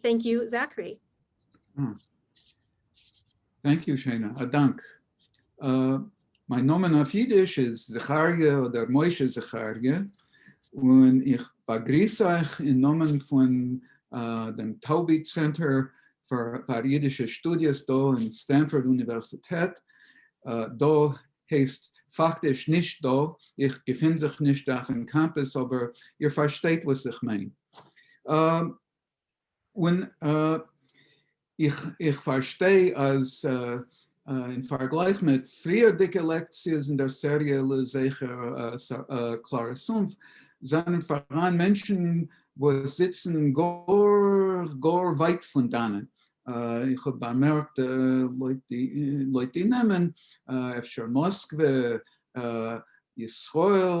טענק יו זאקרי. טענק יו שיינע, א דאנק. מיין נאמען אויף אידיש איז זכריה אדער משה זכריה, און איך באגריס אייך אין נאמען פון דעם טאובי צענטער פאר אידישע שטודיעס דא אין סטענפארד אוניווערסיטעט, דא הייסט פאקטיש נישט דא, איך געפין זיך נישט אויפן קאמפוס אבער איר פארשטייט וואס איך מיין. און איך פארשטיי אז אין פארגלייך מיט פריערדיגע לעקציעס אין דער סעריע לזכר קלארע סומפ, זענען פאראן מענטשן וואס זיצן גאר גאר ווייט פון דאנעט. איך האב באמערקט לויט די נעמען, אפשר מאסקווע, ישראל,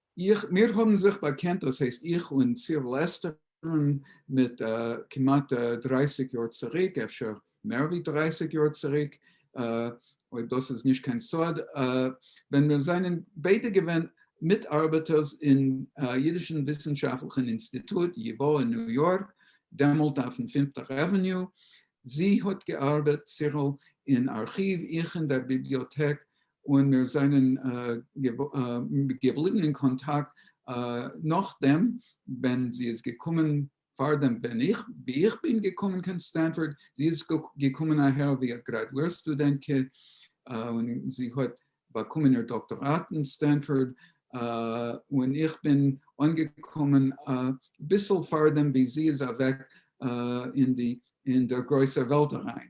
איך, מיר האבן זיך באקענט, דאס הייסט איך און סיר לעסטערן, מיט כמעט דרייסיג יאר צוריק, אפשר מער ווי דרייסיג יאר צוריק, אויב דאס איז נישט קיין סוד, ווען מיר זענען ביידע געווען מיטארבעטערס אין אידישן וויסנשאפטליכן אינסטיטוט ייווא אין ניו יארק, דעמאלט אויפן פינפטער עוועניו, זי האט געארבעט, סירל, אין ארכיוו, איך אין דער ביבליאטעק, און מיר זענען געבליבן אין קאנטאקט נאכדעם ווען זי איז געקומען, פארדעם ווען איך, ווי איך בין געקומען קיין סטענפארד, זי איז געקומען אהער ווי א גרעדוער סטודענטקע, און זי האט באקומען איר דאקטאראט אין סטענפארד, און איך בין אנגעקומען אביסל פארדעם ווי זי איז אוועק אין דער גרויסער וועלט אריין.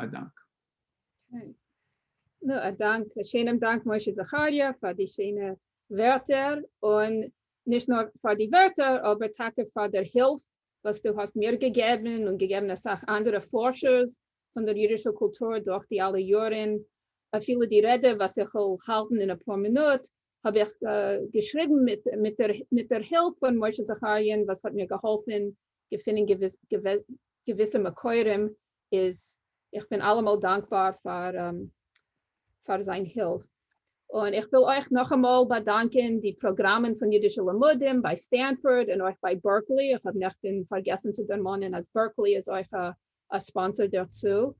א דאנק. נו א דאנק, א שיינעם דאנק משה זכריה פאר די שיינע ווערטער, און נישט נאר פאר די ווערטער אבער טאקע פאר דער הילף וואס דו האסט מיר געגעבן און געגעבן אסאך אנדערע פארשערס פון דער אידישער קולטור דורך די אלע יארן, אפילו די רעדע וואס איך וועל האלטן אין אפאר מינוט האב איך געשריבן מיט דער הילף פון משה זכריה'ן וואס האט מיר געהאלפן געפינען געוויסע מקורים, איז איך בין אלעמאל דאנקבאר פאר זיין הילף. און איך וויל אויך נאכאמאל באדאנקען די פראגראמען פון אידישע לימודים ביי סטענפארד און אויך ביי בערקלי, איך האב נעכטן פארגעסן צו דערמאנען אז בערקלי איז אויך א א ספאנסער דערצו,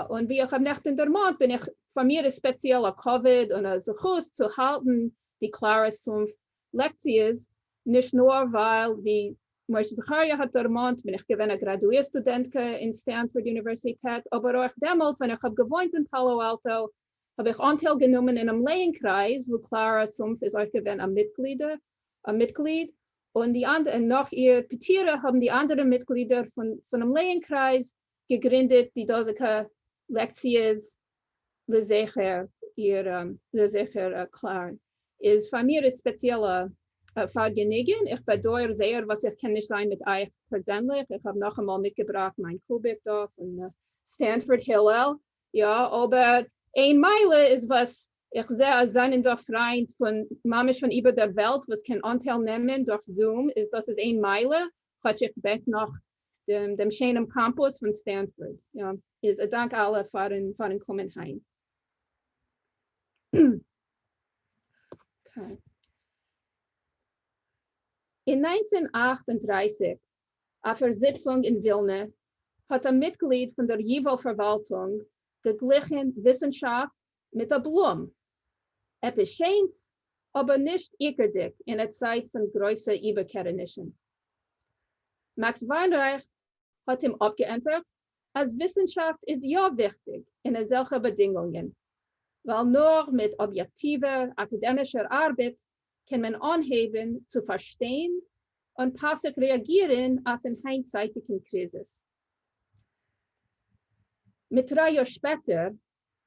און ווי איך האב נעכטען דערמאנט בין איך פאר מיר איז ספעציעל א כבוד און א זכות צו האלטען די קלארע סומפ לעקציעס, נישט נאר ווייל ווי משה זכריה האט דערמאנט בין איך געווען א גראדואיר סטודענטקע אין סטענפארד אוניווערסיטעט, אבער אויך דעמאלט ווען איך האב געוואוינט אין פאלא אלטא האב איך אנטייל גענומען אינעם לעה'ן קרייז וואו קלארא סומף איז אויך געווען א מיטגליד, און נאך איר פטירה האבן די אנדערע מיטגלידער פונעם לעה'ן קרייז געגרינדעט די דאזיגע לעקציעס לזכר איר, לזכר קלארא איז פאר מיר איז ספעציעלע פארגעניגען, איך באדויער זייער וואס איך קען נישט זיין מיט אייך פערזענליך, איך האב נאכאמאל מיטגעבראכט מיין קוביק דא פון סטענפארד הילל, יא אבער איין מעלה איז וואס איך זעה אז זענען דא פריינט פון ממש פון איבער דער וועלט וואס קען אנטייל נעמען דורך זום איז דאס איז איין מעלה כאטש איך בעט נאך דעם שיינעם קאמפוס פון סטענפארד יא איז א דאנק אלע פארן פארן קומען היינט. אין נײַנצן אַכט און דרײַסיק אויף איר זיצונג אין ווילנע, האט א מיטגליד פון דער ייוואו פארוואלטונג געגליכן וויסנשאפט מיט א בלום. עפעס שענס, אבער נישט עיקרדיק אין א צייט פון גרויסע איבערקערענישן. מעקס וויינרייך האט אים אפגעענטפערט אז וויסנשאפט איז יא וויכטיג אין אזעלכע באדינגונגען, ווייל נאר מיט אביעקטיווער אקאדעמישער ארבעט קען מען אנהייבן צו פארשטיין און פאסיג רעאגירן אויפן היינטצייטיגן קריזיס. מיט דריי יאר שפעטער,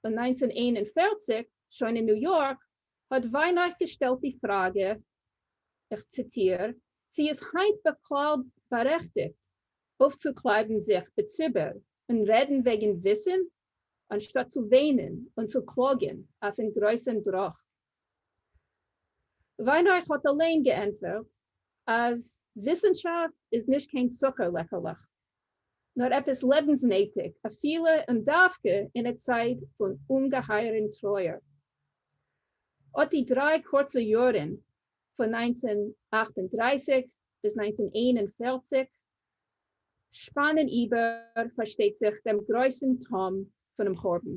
און נײַנצן איין און פֿערציק, שוין אין ניו יארק, האט וויינרייך געשטעלט די פראגע, איך ציטיר, צי איז היינט בכלל בארעכטיגט אויפצוקלייבן זיך בציבור און רעדן וועגן וויסן, אנשטאט צו וויינען און צו קלאגן אויפן גרויסן בראך וויינרייך האט אליין געענטפערט אז וויסענשאפט איז נישט קיין צוקער לעקעלעך, נאר עפעס לעבנסנעטיג, אפילו און דווקא אין א צייט פון אומגעהייערען טרויער. אט די דריי קורצע יארען פון נײַנצן אַכט און דרײַסיק ביז נײַנצן איין און פֿערציק שפאנען איבער, פארשטייט זיך, דעם גרויסען תהום פונעם חורבן.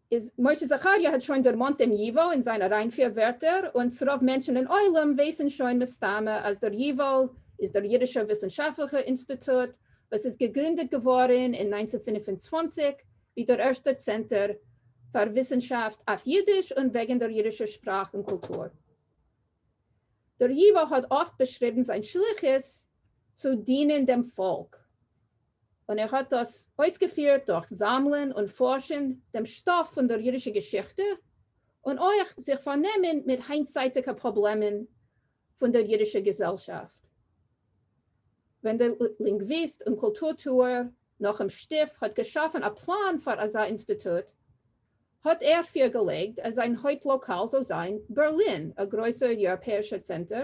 איז משה זכריה האט שוין דערמאנט דעם ייוואל אין זיין אריינפיר ווערטער, און ס'רוב מענטשן אין עולם ווייסן שוין מסתמה אז דער ייוואל איז דער אידישע וויסנשאפטליכע אינסטיטוט וואס איז געגרינדעט געווארן אין נײַנצן הונדערט פֿינף און צוואַנציק ווי דער ערשטער צענטער פאר וויסנשאפט אויף אידיש און וועגן דער אידישער שפראך און קולטור. דער ייוואל האט אפט באשריבן זיין שליחות צו דינען דעם פאלק. און ער האט דאס אויסגעפירט דורך זאמלען און פארשן דעם שטאף פון דער אידישער געשיכטע, און אויך זיך פארנעמען מיט היינטצייטיגע פראבלעמען פון דער אידישער געזעלשאפט. ווען דער לינגוויסט און קולטור-טוער נחום שטיף האט געשאפן א פלאן פאר אזא אינסטיטוט, האט ער פירגעלייגט אז זיין הויפט-לאקאל זאל זיין בערלין, א גרויסער יוראפעישער צענטער,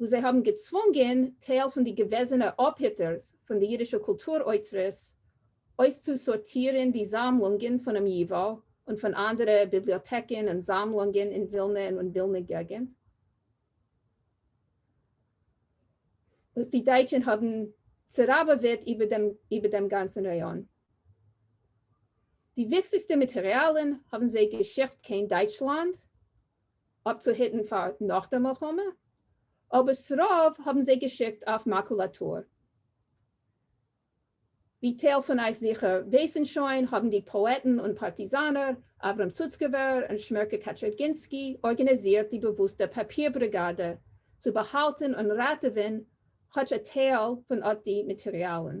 וואו זיי האבן געצוואונגען טייל פון די געוועזענע אפהיטערס פון די אידישע קולטור אוצרות אויסצוסארטירן די זאמלונגען פונעם ייוואו און פון אנדערע ביבליאטעקן און זאמלונגען אין ווילנע און אין ווילנע געגנט, וואס די דייטשן האבן צעראבעוועט איבער דעם גאנצן ראיאן. די וויכטיגסטע מאטעריאלן האבן זיי געשיקט קיין דייטשלאנד, אפצוהיטן פאר נאך די מלחמה, אבער ס'רוב האבן זיי געשיקט אויף מאקולאטור. ווי טייל פון אייך זיכער ווייסן שוין, האבן די פאעטן און פארטיזאנער אברהם סוצקעווער און שמערקע קאטשערגינסקי ארגאניזירט די באוואוסטע פאפיר בריגאדע צו באהאלטן און ראטעווען כאטש א טייל פון אט די מאטעריאלן.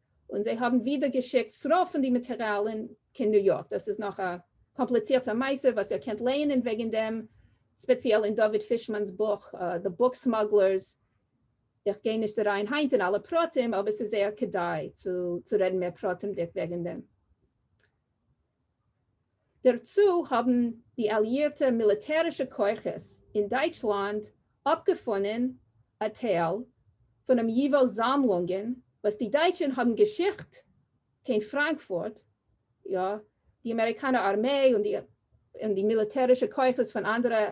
און זיי האבן ווידער געשיקט ס'רוב פון די מאטעריאלן קיין ניו יארק, דאס איז נאך א קאמפליצירטע מעשה וואס איר קענט לייענען וועגן דעם, ספעציעל אין דוד פישמאן'ס בוך The Book Smugglers, איך גיי נישט אריין היינט אין אלע פרטים אבער ס'איז זייער כדאי צו רעדן מער פרטימדיג וועגן דעם. דערצו האבן די אליאירטע מיליטערישע כוחות אין דייטשלאנד אפגעפונען א טייל פונעם ייווא זאמלונגען וואס די דייטשן האבן געשיקט קיין פראנקפורט, יא, די אמעריקאנע ארמעי און די מיליטערישע כוחות פון אנדערע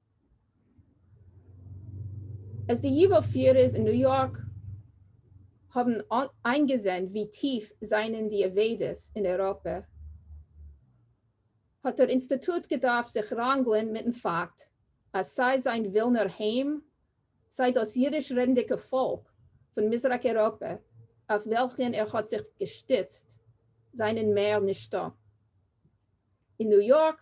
אז די ייווא פירערס אין ניו יארק האבן איינגעזען ווי טיף זענען די אבידות אין אייראפע, האט דער אינסטיטוט געדארפט זיך ראנגלען מיטן פאקט אז סיי זיין ווילנער היים, סיי דאס יידיש-רעדנדיקע פאלק פון מזרח אייראפע אויף וועלכן ער האט זיך געשטיצט, זענען מער נישטא אין ניו יארק.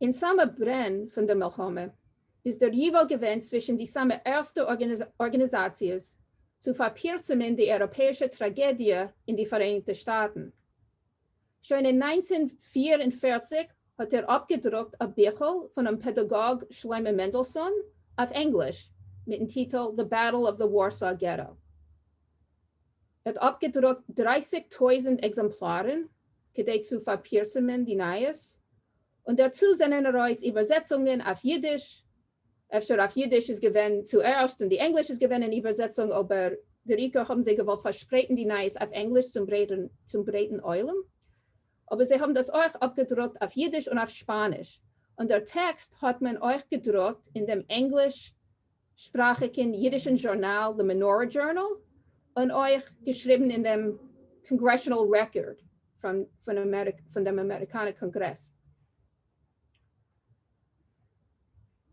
אין סאמע ברען פון דער מלחמה איז דער ייוואו געווען צווישן די סאמע ערסטע ארגאניזאציעס צו פארפירסעמען די אייראפעאישע טראגעדיע אין די פאראייניגטע שטאטן. שוין אין נײַנצן פֿיר און פֿערציק האט ער אפגעדרוקט א ביכל פונעם פעדאגאג שלמה מענדעלסאן אויף ענגליש מיטן טיטל The Battle of the Warsaw Ghetto. ער האט אפגעדרוקט דרייסיג טויזענט עקזעמפלארן כדי צו פארפירסעמען די נייעס, און דערצו זענען ארויס איבערזעצונגען אויף אידיש, אפשר אויף אידיש איז געווען צוערשט און די ענגליש איז געווען אין איבערזעצונג אבער דער עיקר האבן זיי געוואלט פארשפרייטן די נייעס אויף ענגליש צום ברייטן עולם, אבער זיי האבן דאס אויך אפגעדרוקט אויף אידיש און אויף שפאניש, און דער טעקסט האט מען אויך געדרוקט אין דעם ענגליש שפראכיקן יידישן זשורנאל The Menorah Journal און אויך געשריבן אין דעם קאנגרעשאנעל רעקארד פון דעם אמעריקאנער קאנגרעס.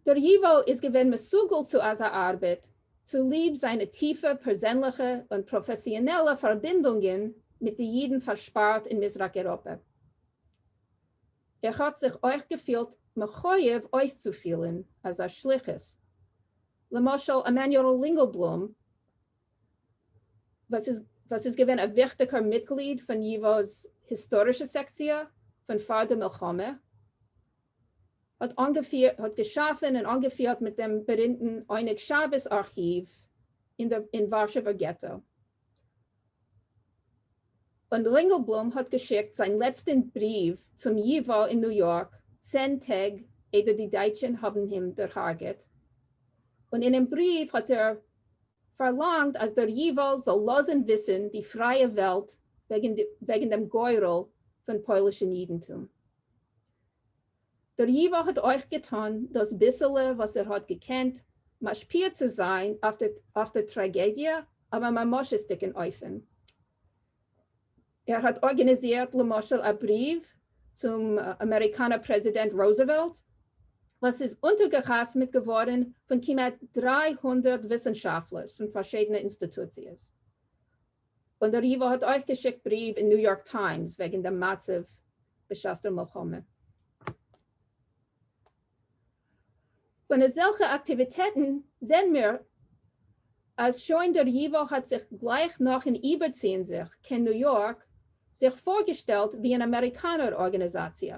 דר. ייוואו איז געווען מסוגל צו אזא ארבעט צוליב זיינע טיפע פערזענליכע און פראפעסיאנעלע פארבינדונגען מיט די יידן פארשפארט אין מזרח אייראפע. איך האב זיך אויך געפילט מחוייב אויסצופילען אזא שליחות, למשל עמנואל לינגלבלום וואס איז געווען א וויכטיגער מיטגליד פון ייווא'ס היסטארישע סעקציע פון פאר די מלחמה, האט געשאפען און אנגעפירט מיט דעם בארימטען עונג שבת ארכיוו אין ווארשעווער געטא, און רינגעלבלום האט געשיקט זיין לעצטען בריוו צום י ו אין ניו יארק צען טעג איידער די דייטשען האבען אים דערהארגעט, און אינעם בריוו האט ער פארלאנגט אז דער י ו זאל לאזען וויסען די פרייע וועלט וועגען דעם גורל פון פוילישען אידענטום. דר. ייווא האט אויך געטון דאס ביסעלע וואס ער האט געקענט משפיע צו זיין אויף די טראגעדיע אויף א ממשות'דיגן אופן. ער האט ארגאניזירט למשל א בריוו צום אמעריקאנער פרעזידענט רוזעוועלט וואס איז אונטערגעחתמעט געווארן פון כמעט דרײַ הונדערט וויסנשאפטלערס פון פארשידענע אינסטיטוציעס און דער ייווא האט אויך געשיקט בריוו אין ניו יארק טיימס וועגן דעם מצב בשעת דער מלחמה. פון אזעלכע אקטיוויטעטן זעהן מיר אז שוין דער ייווא האט זיך גלייך נאכן איבערציען זיך קיין ניו יארק זיך פארגעשטעלט ווי אן אמעריקאנער ארגאניזאציע,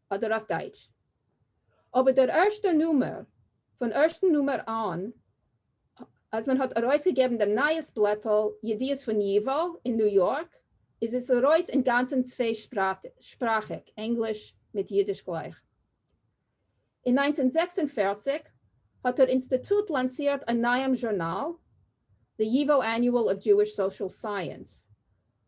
אדער אויף דייטש. אבער דער ערשטער נומער, פון ערשטן נומער אן, אז מען האט ארויסגעגעבן דעם נייעס בלעטל ידיעות פון ייווא אין ניו יארק, איז עס ארויס אינגאנצן צוויי שפראכיג, ענגליש מיט אידיש גלייך. אין נײַנצן זעקס און פֿערציק האט דער אינסטיטוט לאנצירט א נייעם זשורנאל, The Yivo Annual of Jewish Social Science,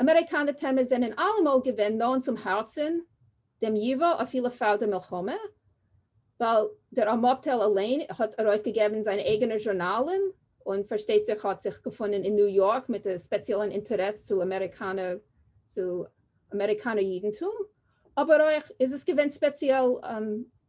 אמעריקאנע טעמעס זענען אלעמאל געווען נאענט צום הארצן דעם ייווא אפילו פאר די מלחמה, ווייל דער אמאטעל אליין האט ארויסגעגעבן זיינע אייגענע זשורנאלן, און פארשטייט זיך האט זיך געפונען אין ניו יארק מיט א ספעציעלן אינטערעס צו אמעריקאנער יידנטום, אבער אויך איז עס געווען ספעציעל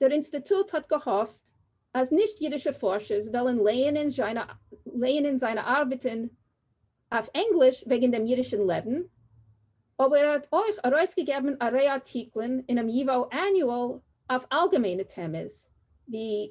דער אינסטיטוט האט געהאפט אז נישט אידישע פארשערס וועלן לייענען זיינע ארבעטן אויף ענגליש וועגן דעם אידישן לעבן, אבער ער האט אויך ארויסגעגעבן א ריי ארטיקלען אינעם ייוואו עניועל אויף אלגעמיינע טעמעס ווי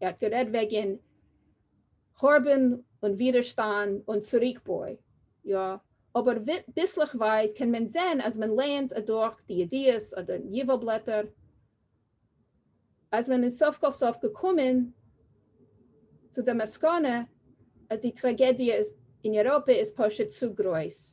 ער האט גערעדט וועגען חורבן און ווידערשטאנד און צוריקבוי, יא, אבער ביסלעכווייז קען מען זעהן אז מען לערנט אדורך די ידיעות אדער ייווא בלעטער אז מען איז סוף כל סוף געקומען צו די מסקנא אז די טראגעדיע אין אירופה איז פשוט צו גרויס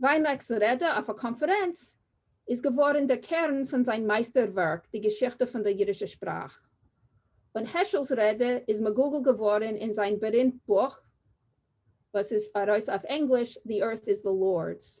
וויינרעכ'ס רעדע אויף א קאנפערענץ איז געווארן דער קערן פון זיין מייסטער ווערק די געשיכטע פון דער אידישער שפראך, און העשל'ס רעדע איז מגולגל געווארן אין זיין בארימט בוך וואס איז ארויס אויף ענגליש, The Earth Is The Lord's.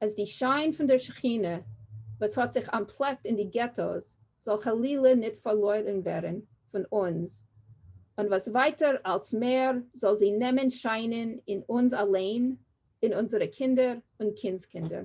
אז די שיין פון דער שכינה וואס האט זיך אנטפלעקט אין די געטאס זאל חלילה ניט פארלוירן ווערן פון אונז, און וואס ווייטער אלץ מער זאל זי נעמען שיינען אין אונז אליין, אין אונזערע קינדער און קינדס-קינדער.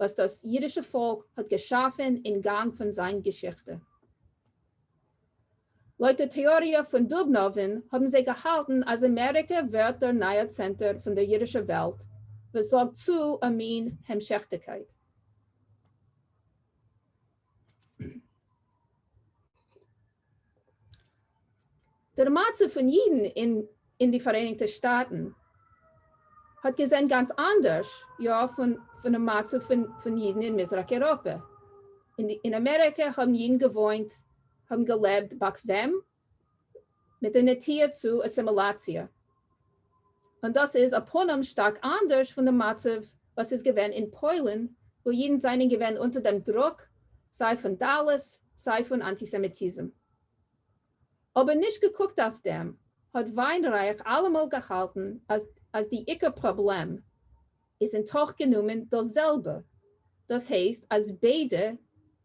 וואס דאס אידישע פאלק האט געשאפן אין גאנג פון זיין געשיכטע. לויט די טעאריע פון דובנאווען האבן זיי געהאלטן אז אמעריקע ווערט דער נייער צענטער פון דער אידישע וועלט וואס זארגט צו א מין המשכתיקייט. דער מצב פון אידן אין די פאראייניגטע שטאטן האט געזען גאנץ אנדערש יא פונעם מצב פון אידן אין מזרח אייראפע. אין אמעריקע האבן אידן געוואוינט, האבן געלעבט באקוועם, מיט א נטייה צו אסימילאציע. און דאס איז ע פנים שטארק אנדערש פון די מצב וואס איז געווען אין פוילן וואו אידן זענען געווען אונטער דעם דרוק סיי פון דלות סיי פון אנטיסעמיטיזם. אבער נישט געקוקט אויף דעם האט וויינרייך אלעמאל געהאלטן אז די עיקר פראבלעם איז אין תוך גענומען דאס זעלבע, דאס הייסט אז ביידע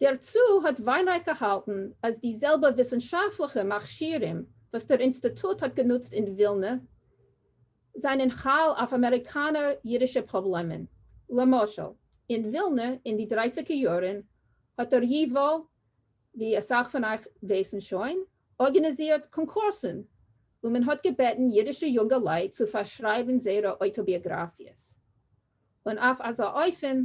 דערצו האט וויינרייך געהאלטן אז די זעלבע וויסנשאפטליכע מכשירים וואס דער אינסטיטוט האט גענוצט אין ווילנע זענען חל אויף אמעריקאנער אידישע פראבלעמען. למשל אין ווילנע אין די דרייסיגע יארן האט דער ייווא, ווי אסאך פון אייך ווייסן שוין, ארגאניזירט קאנקורסן וואו מען האט געבעטן אידישע יונגעלייט צו פארשרייבן זייערע אויטאביאגראפיעס און אויף אזא אופן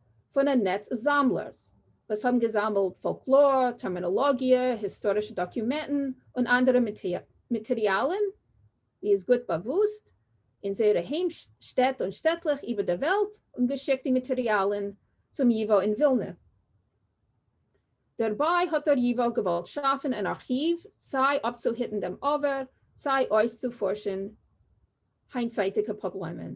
פון א נעץ זאמלערס וואס האבן געזאמלט פאלקלאר, טערמינאלאגיע, היסטארישע דאקומענטן און אנדערע מאטעריאלן ווי איז גוט באוואוסט, אין זייערע היים שטעט און שטעטלעך איבער דער וועלט און געשיקט די מאטעריאלן צום ייוואו אין ווילנע. דערביי האט דער ייוואו געוואלט שאפן אן ארכיוו סיי אפצוהיטן דעם עבר סיי אויסצופארשן היינטצייטיגע פראבלעמען.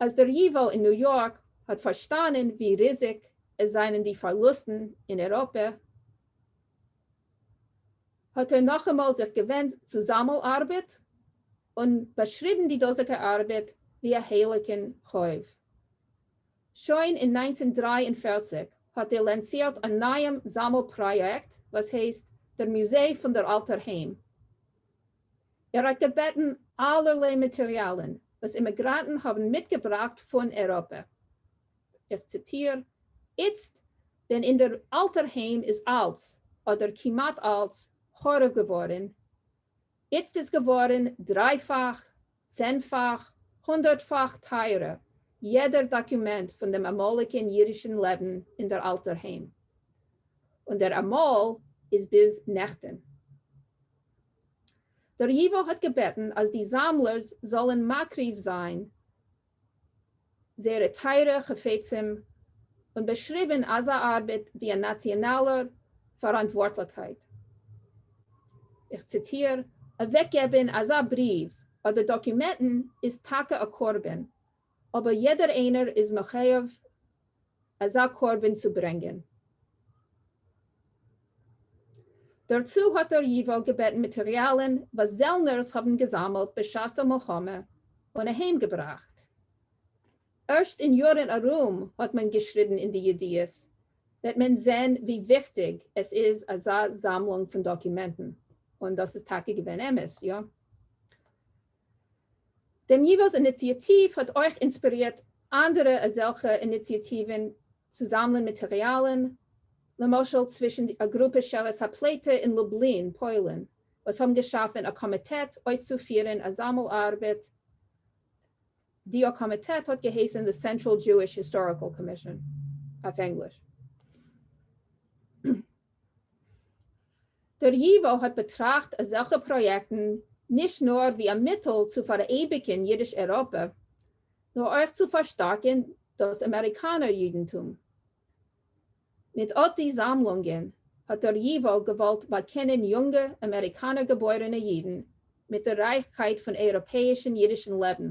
אז דער ייוואו אין ניו יארק האט פארשטאנען ווי ריזיג עס זענען די פארלוסטן אין אירופה, האט ער נאכאמאל זיך געווענדט צו זאמל ארבעט, און באשריבן די דאזיגע ארבעט ווי א הייליגן חוב. שוין אין נײַנצן דרײַ און פֿערציק האט ער לאנצירט א נייעם זאמל פראיעקט וואס הייסט דער מוזיי פון דער אלטער היים. ער האט געבעטן אלערליי מאטעריאלן וואס אימיגראנטן האבן מיטגעבראכט פון אייראפע, איך ציטיר, איצט ווען אין דער אלטער היים איז אלץ, אדער כמעט אלץ, חרוב געווארן, איצט איז געווארן דריי-פאך צענפאך, הונדערטפאך טייערע, יעדער דאקומענט פון דעם אמאליגען אידישען לעבן אין דער אלטער היים. און דער אמאל איז ביז נעכטען. דער ייווא האט געבעטן אז די זאמלערס זאלען מקריב זיין זייערע טייערע חפצים, און באשריבן אזא ארבעט ווי א נאציאנאלע פאראנטווארטליכקייט. איך ציטיר, אוועקגעבן אזא בריוו אדער דאקומענטן איז טאקע א קרבן, אבער יעדער איינער איז מחויב אזא קרבן צו ברענגען. דערצו האט דער ייוואו געבעטן מאטעריאלן וואס זעלנערס האבן געזאמלט בשעת דער מלחמה און אהיים געבראכט. ערשט אין יארן ארום האט מען געשריבן אין די ידיעות, וועט מען זען ווי וויכטיג עס איז אזא זאמלונג פון דאקומענטן, און דאס איז טאקע געווען אמת, איא? דעם ייִוואָס איניציאַטיוו האָט אויך אינספּירירט אַנדערע אַזעלכע איניציאַטיוון צו זאַמלען מאַטעריאַלן, למשל, צווישן אַ גרופּע שארית הפּליטה אין לובלין, פּוילן, וואָס האָבן געשאַפֿן אַ קאָמיטעט אויסצופֿירן אַ זאַמל-אַרבעט, די אָ קאָמיטעט האָט געהייסן The Central Jewish Historical Commission, אויף ענגליש. דער ייוואָ האָט באַטראַכט אַזעלכע פּראָיעקטן נישט נאָר ווי אַ מיטל צו פֿאַראייביקן ייִדיש-אייראָפּע, נאָר אויך צו פֿאַרשטאַרקן דאָס אַמעריקאַנער ייִדנטום. מיט אָט די זאַמלונגען האָט דער ייוואָ געוואָלט באַקענען יונגע אַמעריקאַנער-געבוירענע ייִדן מיט דער רײַכקייט פֿון אייראָפּעיִשן ייִדישן לעבן.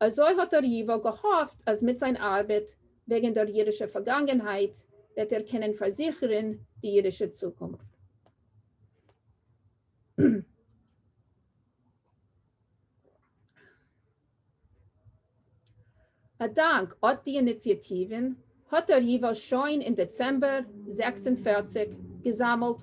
אזוי האט דער ייוואק געהאפט אז מיט זיין ארבעט וועגן דער אידישער פארגאנגענהייט וועט ער קענען פארזיכערן די אידישע צוקונפט. א דאנק אט די איניציאטיוון האט דער ייוואק שוין אין דעצעמבער זעקס און פֿערציק געזאמלט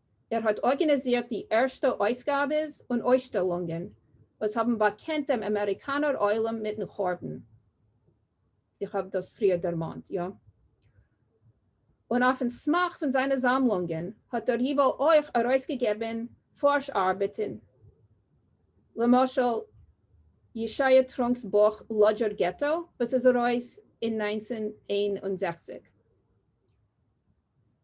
ער האט ארגענעזירט די ערשטע אויסגאבעס און אויסשטעלונגען וואס האבן באקענט דעם אמעריקאנער עולם מיטן חורבן, איך האב דאס פריער דערמאנט, יא? און אויפן סמך פון זיינע זאמלונגען האט דער ייוואו אויך ארויסגעגעבן פארש ארבעטן, למשל ישעיה טרונק'ס בוך לאדזשער געטא וואס איז ארויס אין נײַנצן איין און זעכציק.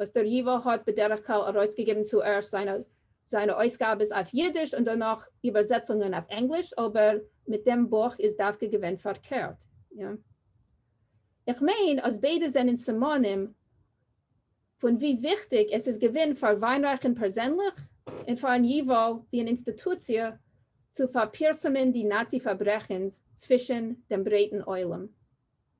וואס דער י ו האט בדרך כלל ארויסגעגעבן צוערשט זיינע זיינע אויסגאבעס אויף אידיש און דערנאך איבערזעצונגען אויף ענגליש, אבער מיט דעם בוך איז דווקא געווען פארקערט. איך מיין אז ביידע זענען סימנים פון ווי וויכטיג עס איז געווען פאר וויינרייכן פערזענליך און פארן י ו ווי אן אינסטיטוציע צו פארפירסמען די נאצי פארברעכנס צווישן דעם ברייטן עולם.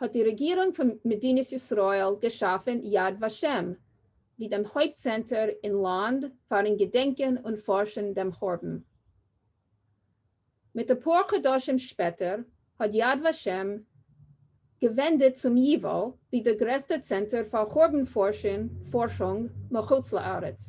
האט די רעגירונג פון מדינת ישראל געשאפן יד ושם ווי דעם הויפט צענטער אין לאנד פארן געדענקען און פארשן דעם חורבן. מיט אפאר חדשים שפעטער האט יד ושם געווענדעט צום ייוואו ווי דער גרעסטער צענטער פאר חורבן פארשונג מחוץ לארץ.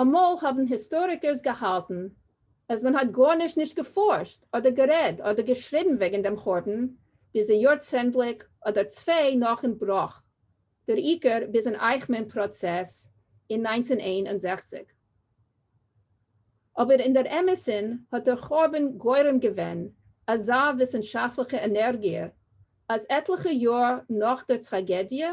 אמאל האבן היסטאריקערס געהאלטן אז מען האט גארנישט נישט געפארשט אדער גערעד אדער געשריבן וועגן דעם חורבן ביז א יארצענדליג אדער צוויי נאכן בראך, דער עיקר ביזן אייכמאן פראצעס אין נײַנצן איין און זעכציק. אבער אין דער אמת'ן האט דער חורבן גורם געווען אזא וויסנשאפטליכע ענערגיע אז עטליכע יאר נאך דער טראגעדיע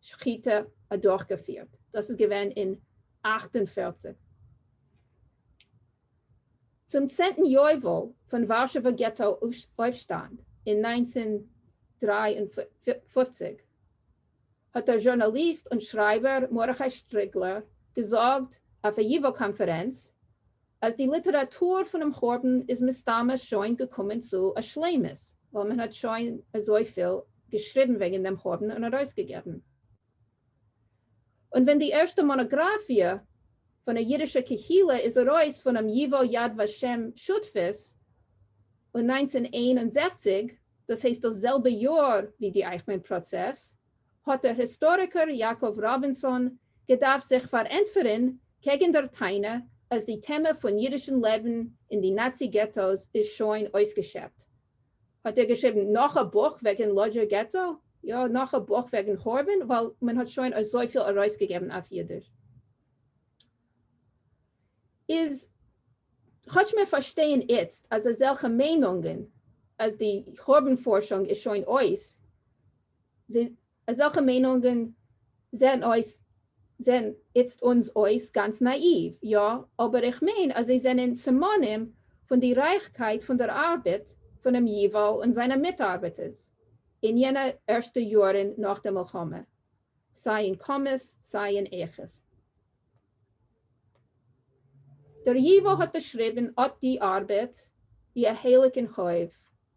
שחיטה אדורכגעפירט, דאס איז געווען אין אַכט און פֿערציק. צום צענטן יובל פון ווארשעווע געטא אויפשטאנד אין נײַנצן דרײַ און פֿופֿציק, האט דער זשורנאליסט און שרייבער מרדכי שטריגלער געזאגט אויף א ייווא קאנפערענץ אז די ליטעראטור פונעם חורבן איז מסתמא שוין געקומען צו א שלימות, ווייל מען האט שוין אזויפיל געשריבן וועגן דעם חורבן און ארויסגעגעבן. און ווען די ערשטע מאנאגראפיע פון א אידישע קהילה איז ארויס פונעם ייוואו יד ושם שותפות און נײַנצן איין און זעכציק, דאס הייסט דאס זעלבע יאר ווי די אייכמאן פראצעס, האט דער היסטאריקער יעקב ראבינסאן געדארפט זיך פארענטפערען קעגען דער טענה אז די טעמע פון אידישען לעבען אין די נאצי געטא'ס איז שוין אויסגעשעפט. האט ער געשריבען נאך א בוך וועגען לאדזשער געטא? יא, נאך א בוך וועגען חורבן, ווייל מען האט שוין אזויפיל ארויסגעגעבען אויף אידיש. איז כאטש מיר פארשטייען איצט אז אזעלכע מיינונגען אז די חורבן פארשונג איז שוין אויס, אזעלכע מיינונגען זעהן אויס זעהן איצט אונז אויס גאנץ נאאיוו, יא, אבער איך מיין אז זיי זענען סימנים פון די רייכקייט פון דער ארבעט פונעם ייוואו און זיינע מיטארבעטערס אין יענע ערשטע יאהרן נאך די מלחמה, סיי אין כמות סיי אין איכות. דער ייוואו האט באשריבן אט די ארבעט ווי א הייליגן חוב.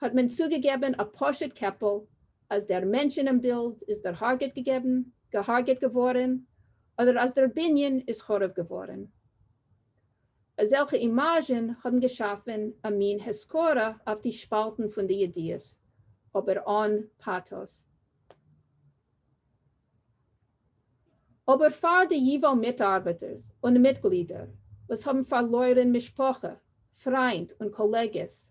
האט מען צוגעגעבען א פשוט קעפל אז דער מענטש אינעם בילד איז דערהארגעט געגעבן, געהארגעט געווארען, אדער אז דער בנין איז חרוב געווארען. אזעלכע אימאזשען האבן געשאפען א מין הזכרה אויף די שפאלטען פון די ידיעות, אבער אן פאטאס. אבער פאר די ייוואו מיטארבעטערס און מיטגלידער וואס האבן פארלוירען משפחה, פריינד און קאלעגעס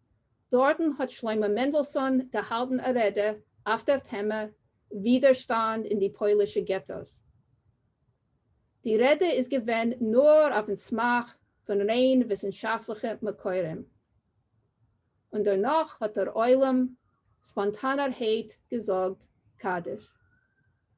דארטן האט שלמה מענדלסאן געהאלטן א רעדע אויף דער טעמע ווידערשטאנד אין די פוילישע געטאס. די רעדע איז געווען נאר אויפן סמך פון ריין וויסנשאפטליכע מקורים. און דערנאך האט דער עולם ספאנטאנערהייט געזאגט קדיש.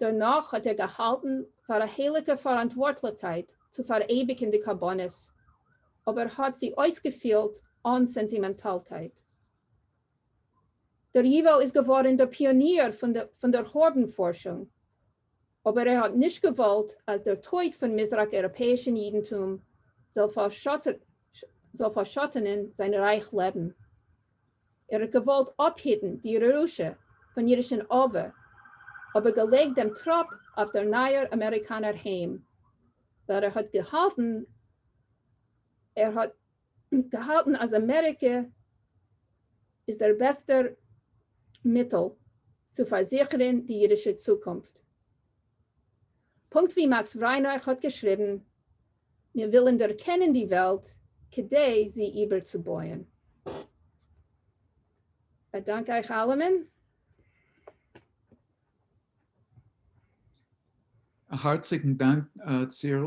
דערנאך האט ער געהאלטן פאר א הייליגע פאראנטווארטליכקייט צו פאראייביגן די קרבנות, אבער האט זי אויסגעפילט אן סענטימענטאלקייט. דער ייוואו איז געווארן דער פיאניר פון דער הארבן פארשונג, אבער ער האט נישט געוואלט אז דער טויט פון מזרח-אייראפעאישן יידנטום זאל פארשאטענען זיין רייך לעבן. ער האט געוואלט אפהיטן די ירושה פון אידישן אב ע, אבער געלייגט דעם טראפ אויף דער נייער אמעריקאנער היים, ווייל ער האט געהאלטן ער האט געהאלטן אז אמעריקע איז דער בעסטער מיטל צו פארזיכערן די אידישע צוקונפט. פונקט ווי מאקס ריינאך האט געשריבן, מיר ווילן דערקענען די וועלט כדי זי איבערצובויען. באדאנק אייך אלעמען. א הארציגן דאנק צירל.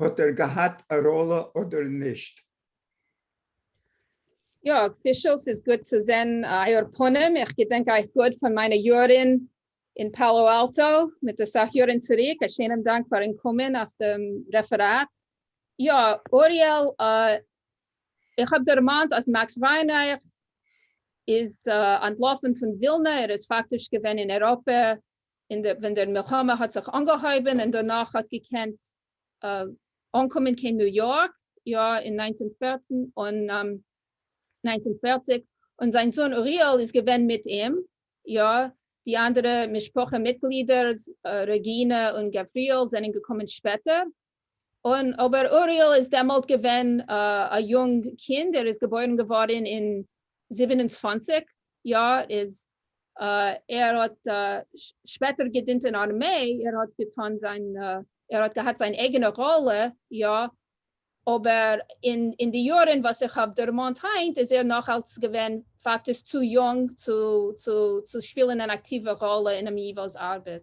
האט ער געהאט א ראלע אדער נישט? יא, פישל ס'איז גוט צו זען אייער פנים, איך געדענק אייך גוט פון מיינע יארען אין פאלא אלטא מיט אסאך יארען צוריק, א שענעם דאנק פארען קומען אויף דעם רעפעראט. יא אוריאל איך האב דערמאנט אז מאקס וויינרייך איז אנטלאפען פון ווילנא, ער איז פאקטיש געווען אין אירופה און ווען דער מלחמה האט זיך אנגעהויבען און דערנאך האט געקענט אנקומען קיין ניו יארק יא אין נײַנצן פֿערצן און נײַנצן פֿערציק און זיין זון אוריאל איז געווען מיט אים יא די אנדערע משפחה מיטגלידער רעגינע און גבריאל זענען געקומען שפעטער און אבער אוריאל איז דעמאלט געווען א יונג קינד, ער איז געבוירן געווארן אין זיבן און צוואַנציק, יא, איז ער האט שפעטער געדינט אין ארמעי, ער האט געטון זיין, ער האט געהאט זיין אייגענע ראלע, יא, אבער אין די יארן וואס איך האב דערמאנט היינט איז ער נאך אלץ געווען פאקטיש צו יונג צו שפילן אן אקטיווע ראלע אינעם ייווא'ס ארבעט.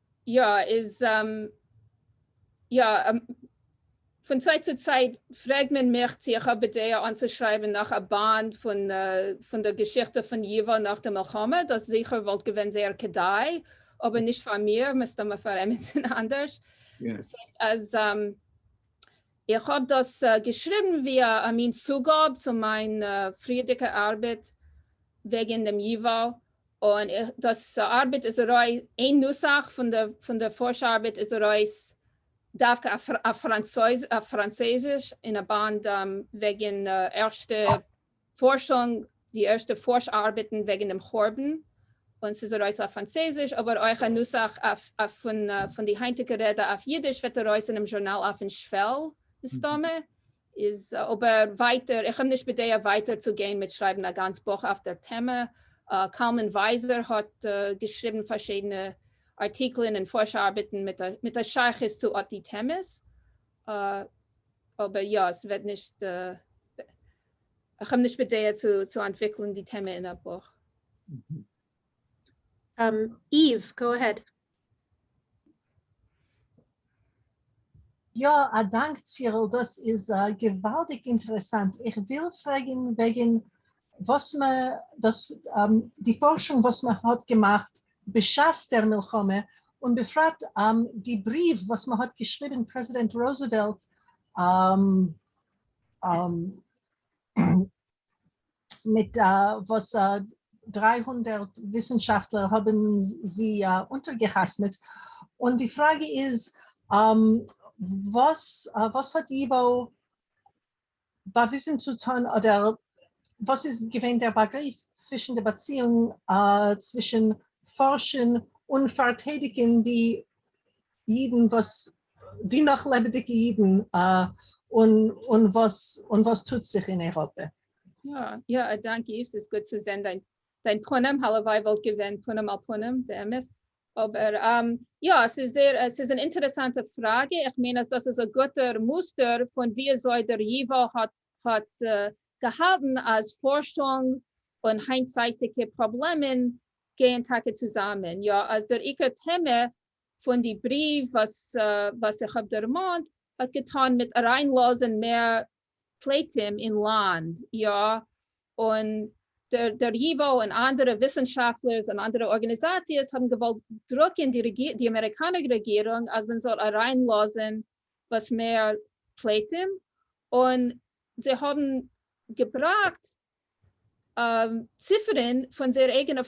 יא איז יא. פון צייט צו צייט פרעג מען מיך צו איך האב בדעה אנצושרייבן נאך א באנד פון די געשיכטע פון ייווא נאך די מלחמה, דאס זיכער וואלט געווען זייער כדאי, אבער נישט פאר מיר, מסתמא פאר עמיצן אנדערש. דאס הייסט אז איך האב דאס געשריבן ווי א מין צוגאב צו מיין פריערדיגע ארבעט וועגן דעם ייווא, און דאס ארבעט איז ארויס, איין נוסח פון די פארש ארבעט איז ארויס דווקא אויף פראנצויזיש אין א באנד וועגן ערשטע פארשונג, די ערשטע פארש ארבעטן וועגן דעם חורבן, און ס'איז ארויס אויף פראנצויזיש, אבער אויך א נוסח פון די היינטיגע רעדע אויף אידיש וועט ארויס אינעם זשורנאל אויפן שוועל מסתמא, איז אבער ווייטער, איך האב נישט בדעה ווייטער צו גיין מיט שרייבן א גאנץ בוך אויף דער טעמע. קלמן ווייזער האט געשריבן פארשידענע ארטיקלען און פארש ארבעטן מיט א שייכות צו אט די טעמעס, אבער יא, עס וועט נישט, איך האב נישט בדעה צו אנטוויקלן די טעמע אין א בוך. איוו, גאו אהעד. יא, א דאנק צירל, דאס איז געוואלדיג אינטערעסאנט, איך וויל פרעגן וועגן וואס מ דאס די פארשונג וואס מען האט געמאכט בשעת דער מלחמה, און בפרט די בריוו וואס מען האט געשריבן פרעזידענט רוזעוועלט מיט וואס דריי הונדערט וויסנשאפטלער האבן זי אונטערגעחתמעט, און די פראגע איז וואס וואס האט ייווא באוויזן צו טון אדער וואס איז געווען דער באגריף צווישן די באציאונג צווישן פארשן און פארטיידיגן די אידן וואס די נאך לעבעדיגע אידן און און וואס און וואס טוט זיך אין אייראפע. יא יא א דאנק איף ס'איז גוט צו זען דיין דיין פנים הלוואי וואלט געווען פנים אל פנים באמת אבער יא ס'איז זייער ס'איז אן אינטערעסאנטע פראגע איך מיין אז דאס איז א גוטער מוסטער פון וויאזוי דער ייווא האט האט געהאלטן אז פארשונג און היינטצייטיגע פראבלעמען גייען טאקע צוזאמען יא אז דער עיקר טעמע פון די בריוו וואס איך האב דערמאנט האט געטאן מיט אריינלאזען מער פליטים אין לאנד, יא, און דער ייוואו און אנדערע וויסענשאפטלערס און אנדערע ארגעניזאציעס האבן געוואלט דרוקען די אמעריקאנער רעגירונג אז מען זאל אריינלאזען וואס מער פליטים, און זיי האבן געבראקט ציפערן פון זייער אייגענע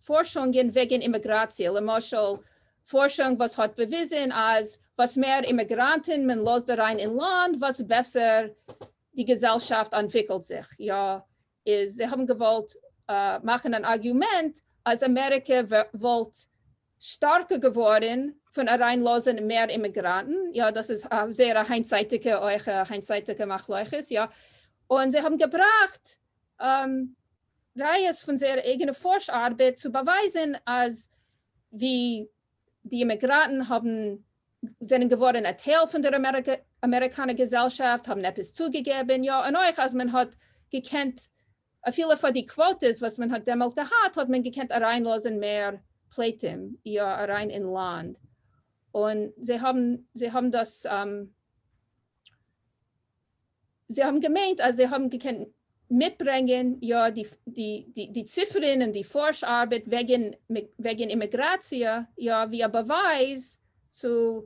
פארשונגען וועגן אימיגראציע, למשל פארשונג וואס האט באוויזן אז וואס מער אימיגראנטן מען לאזט אריין אין לאנד וואס בעסער די געזעלשאפט אנטוויקלט זיך, יא איז זיי האבן געוואלט מאכן אן ארגיומענט אז אמעריקע וואלט שטארקער געווארן פון אריין לאזן מער אימיגראנטן, יא דאס איז א זייער א היינטצייטיגע אויך א היינטצייטיגע מחלוקת יא, און זיי האבן געבראכט ראיות פון זייער אייגענע פארש ארבעט צו באווייזן אז ווי די אימיגראנטן האבן זענען געווארן א טייל פון דער אמעריקאנער געזעלשאפט האבן עפעס צוגעגעבן יא, און אויך אז מען האט געקענט אפילו פאר די קוואטעס וואס מען האט דעמאלט געהאט האט מען געקענט אריינלאזען מער פליטים יא אריין אין לאנד און זיי האבן זיי האבן דאס זיי האבן געמיינט אז זיי האבן געקענט מיטברענגען יא די די די ציפערען און די פארש ארבעט וועגען וועגען אימעגראציע יא ווי א באווייז צו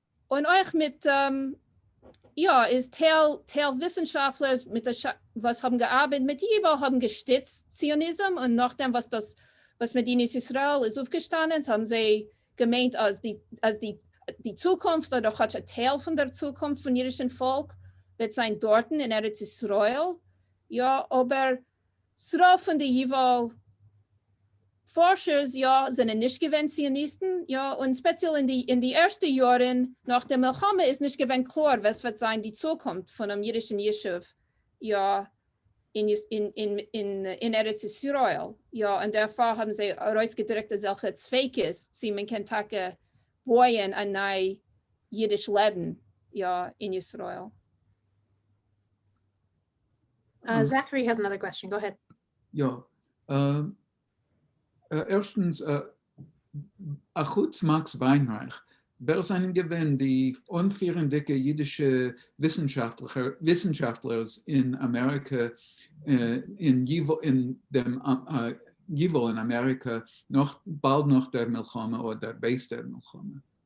און אויך מיט יא איז טייל טייל וויסנשאפטלער מיט א ש וואס האבן געארבעט מיט ייווא האבן געשטיצט ציוניזם און נאכדעם וואס דאס וואס מדינת ישראל איז אויפגעשטאנען האבן זיי געמיינט אז די אז די די צוקונפט אדער כאטש א טייל פון דער צוקונפט פון אידישן פאלק וועט זיין דארטן אין ארץ ישראל יא אבער ס'רוב פון די ייוואו פארשערס יא זענען נישט געווען ציוניסטן, יא, און ספעציעל אין די ערשטע יארן נאך די מלחמה איז נישט געווען קלאר וואס וועט זיין די צוקונפט פונעם אידישן ישוב, יא, אין ארץ ישראל, יא, און דערפאר האבן זיי ארויסגעדריקט אזעלכע ספיקות צי מען קען טאקע בויען א ניי אידיש לעבן, יא, אין ישראל. זאכרי האס אנאדער קוועסטשען, גאו העד. יא, ערשטנס, אחוץ מאקס וויינרייך, ווער זענען געווען די אנפירענדיגע אידישע וויסנשאפטלערס אין אמעריקע, אין דעם ייוואו אין אמעריקע, באלד נאך דער מלחמה אדער בעת דער מלחמה?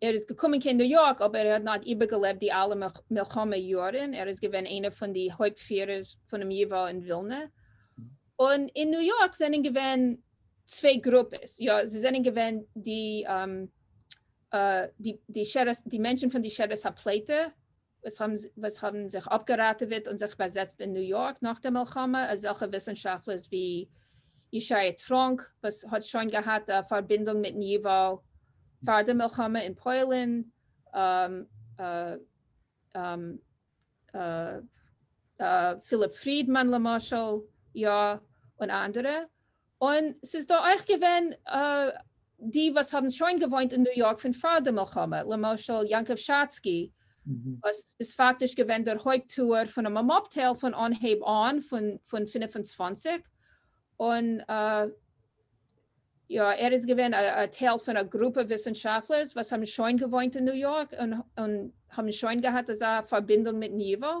ער איז געקומען קיין ניו יארק אבער ער האט נאט איבערגעלעבט די אלע מלחמה יארן, ער איז געווען איינע פון די הויפט פירער פונעם ייווא אין ווילנע, און אין ניו יארק זענען געווען צוויי גרופעס, יא זיי זענען געווען די די די מענטשן פון די שרעס הפלטה, וואס האבן זיך אפגעראטעוועט און זיך באזעצט אין ניו יארק נאך די מלחמה, אזעלכע וויסנשאפטלערס ווי ישעי' טראנק וואס האט שוין געהאט א פארבינדונג מיטן ייוואו פאר די מלחמה אין פוילן, פיליפ פרידמאן למשל, יא, און אנדערע, און ס'איז דא אויך געווען די וואס האבן שוין געוואוינט אין ניו יארק פון פאר די מלחמה, למשל יעקב שאצקי וואס איז פאקטיש געווען דער הויפט טוער פונעם אמאפטעל פון אנהייב אן, פון פון פֿינף און צוואַנציק, און יא ער איז געווען א טייל פון א גרופע וויסענשאפלערס וואס האבן שוין געוואוינט אין ניו יארק און האבן שוין געהאט אזא פארבינדונג מיטן ייוואו,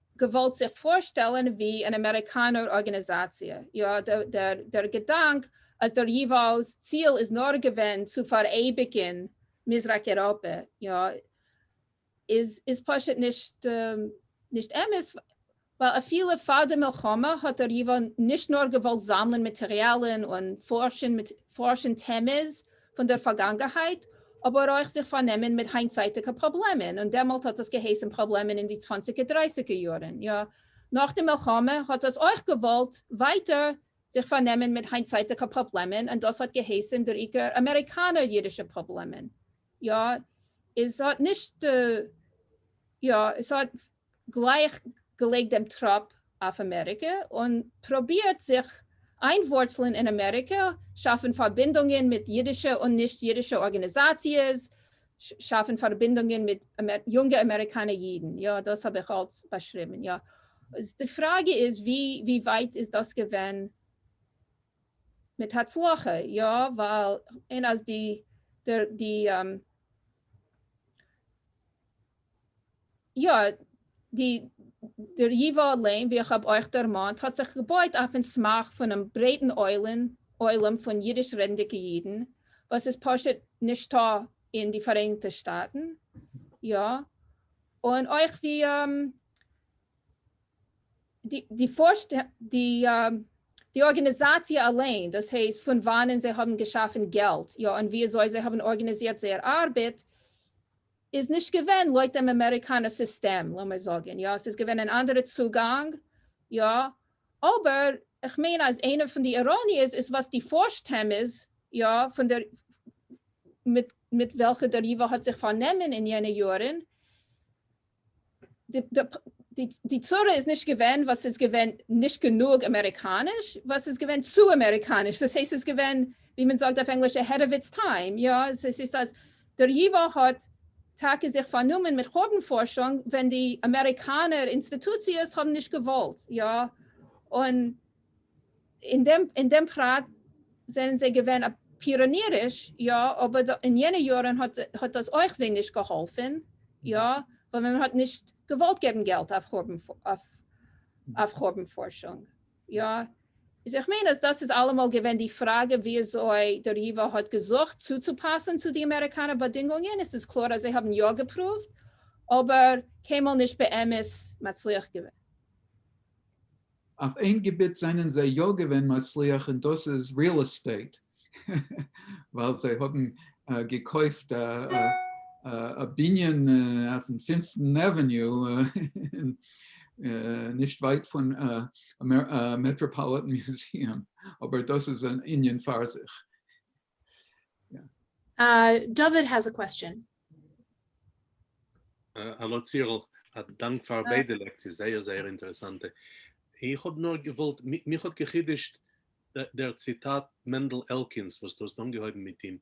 געוואלט זיך פארשטעלן ווי אן אמעריקאנער ארגענעזאציע, יא, דער געדאנק אז דער ייוואו'ס ציל איז נאר געווען צו פאראייביגן מזרח אייראפע, יא, איז פשוט נישט אמת, ווייל אפילו פאר די מלחמה האט דער ייוואו נישט נאר געוואלט זאמלן מאטעריאלן און פארשן טעמעס פון דער פארגאנגעהייט, אבער אויך זיך פארנעמען מיט היינטצייטיגע פראבלעמען, און דעמאלט האט דאס געהייסן פראבלעמען אין די צוואנציגער דרייסיגער יארן, יא, נאך די מלחמה האט דאס אויך געוואלט ווייטער זיך פארנעמען מיט היינטצייטיגע פראבלעמען, און דאס האט געהייסן דער עיקר אמעריקאנער אידישע פראבלעמען, יא, איז האט נישט, יא, עס האט. גלייך געלייגט דעם טראפ אויף אמעריקע און פרובירט זיך איינווארצלען אין אמעריקע, שאפן פארבינדונגען מיט אידישע און נישט אידישע ארגאניזאציעס, שאפן פארבינדונגען מיט יונגע אמעריקאנע אידן, יא דאס האב איך אלץ באשריבן, יא איז די פראגע איז ווי ווייט איז דאס געווען מיט הצלחה, יא ווייל אין אז די די. יא, די דר. ייווא לעם ווי איך האב אויך דערמאנט האט זיך געבויט אויפן סמך פונעם ברייטן עולם פון אידיש רעדנדיגע אידן וואס איז פשוט נישטא אין די פאראייניגטע שטאטן, יא, און אויך ווי די ארגענעזאציע אליין, דאס הייסט פון וואנען זיי האבן געשאפן געלט, יא, און וויאזוי זיי האבן ארגענעזירט זייער ארבעט, איז נישט געווען לויט דעם אמעריקאנער סיסטעם, לאמיר זאגן, יא, ס'איז געווען אן אנדערע צוגאנג, יא, אבער איך מיין אז איינע פון די איראניעס איז וואס די פארשט טעמעס, יא, פון דער מיט וועלכע דער ייווא האט זיך פארנומען אין יענע יארן, די צרה איז נישט געווען וואס ס'איז געווען נישט גענוג אמעריקאניש, וואס ס'איז געווען צו אמעריקאניש, דאס הייסט ס'איז געווען ווי מען זאגט אויף ענגליש אהעד אוו איטס טיים, יא, עס הייסט אז דער ייווא האט טאקע זיך פארנומען מיט חורבן פארשונג ווען די אמעריקאנער אינסטיטוציעס האבן נישט געוואלט, יא, און. אין דעם פרט זענען זיי געווען פיראניריש, יא, אבער אין יענע יארן האט דאס אויך זיי נישט געהאלפן, יא, ווייל מען האט נישט געוואלט געבן געלט אויף חורבן פארשונג, יא. איז איך מיין אז דאס איז אלעמאל געווען די פראגע וויאזוי דער ייווא האט געזוכט צוצופאסן צו די אמעריקאנער באדינגונגען, עס איז קלאר אז זיי האבן יא געפרואווט, אבער קיינמאל נישט באמת מצליח געווען. אויף איין געביט זענען זיי יא געווען מצליח און דאס איז ריעל עסטעיט, ווייל זיי האבן געקויפט א בנין אויפן פינפטן עוועניו, נישט ווייט פון מעטראפאליטען מיוזיעם, אבער דאס איז אן ענין פאר זיך. דוד האס א קוועסטשען. האלא צירל, א דאנק פאר ביידע לעקציעס, זייער זייער אינטערעסאנטע. איך האב נאר געוואלט, מיך האט געחידוש'ט דער ציטאט מענדל עלקינס וואס דו האסט אנגעהויבן מיט אים,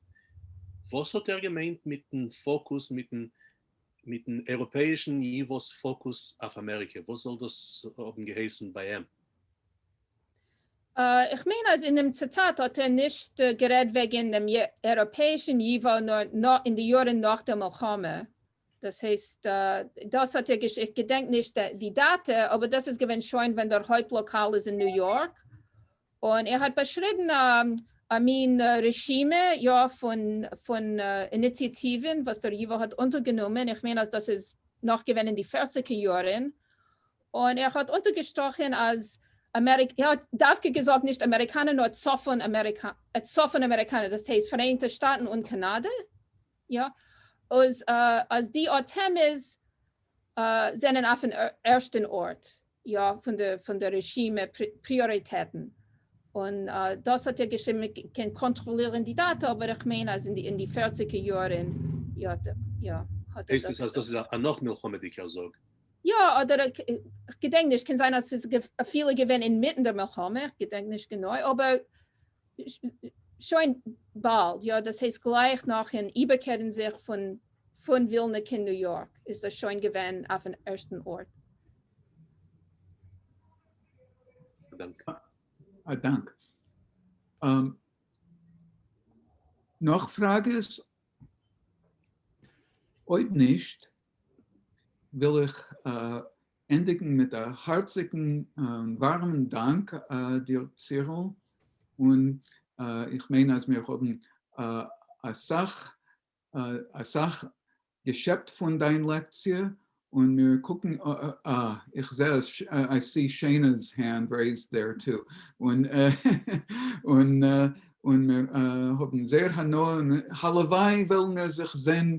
וואס האט ער געמיינט מיטן פאקוס, מיטן מיטן אייראפעאישן ייווא'ס פאקוס אויף אמעריקע, וואס זאל דאס האבן געהייסן ביי אים? איך מיין אז אין דעם ציטאט האט ער נישט גערעדט וועגען דעם אייראפעישען ייווא נאר אין די יארען נאך דער מלחמה, דאס הייסט דאס האט ער געש איך געדענק נישט די דאטע אבער דאס איז געווען שוין ווען דער הויפט לאקאל איז אין ניו יארק און ער האט באשריבען א מין רשימה יא פון פון איניציאטיווען וואס דער ייווא האט אונטערגענומען איך מיין אז דאס איז נאך געווען אין די פערציגער יארען און ער האט אונטערגעשטראכן אז אמעריקע, ער האט דווקא געזאגט נישט אמעריקאנע נאר צפון אמעריקא, צפון אמעריקאנע דאס הייסט פאראיינטע שטאטן און קאנאדע, יא, אז אז די אטעמעס זענען אויפן ערשטן ארט, יא, פון די פון די רשימה פריאריטעטן, און דאס האט ער געשריבן, מען קען קאנטראלירן די דאטא אבער איך מיין אז אין די פערציגער יארן, יא, יא, האט ער דאס געזאגט. הייסט עס אז דאס איז א נאך מלחמה'דיגער זאג? יא אדער כ'געדענק נישט, קען זיין אז ס'איז אפילו געווען אינמיטן די מלחמה, איך געדענק נישט גענוי, אבער שוין באלד, יא דאס הייסט גלייך נאכן איבערקערן זיך פון פון ווילנע קיין ניו יארק איז דאס שוין געווען אויפן ערשטן ארט. א דאנק. נאך פראגעס? אויב נישט וויל איך ענדיגן מיט א הארציגן ווארעמען דאנק דיר צירל, און איך מיין אז מיר האבן אסאך אסאך געשעפט פון דיין לעקציע, און מיר קוקן, אה, איך זע אז, איי סי שעינא'ס הענד רעיזד דער טו, און און און מיר האבן זייער הנאה, און הלוואי וועלן מיר זיך זען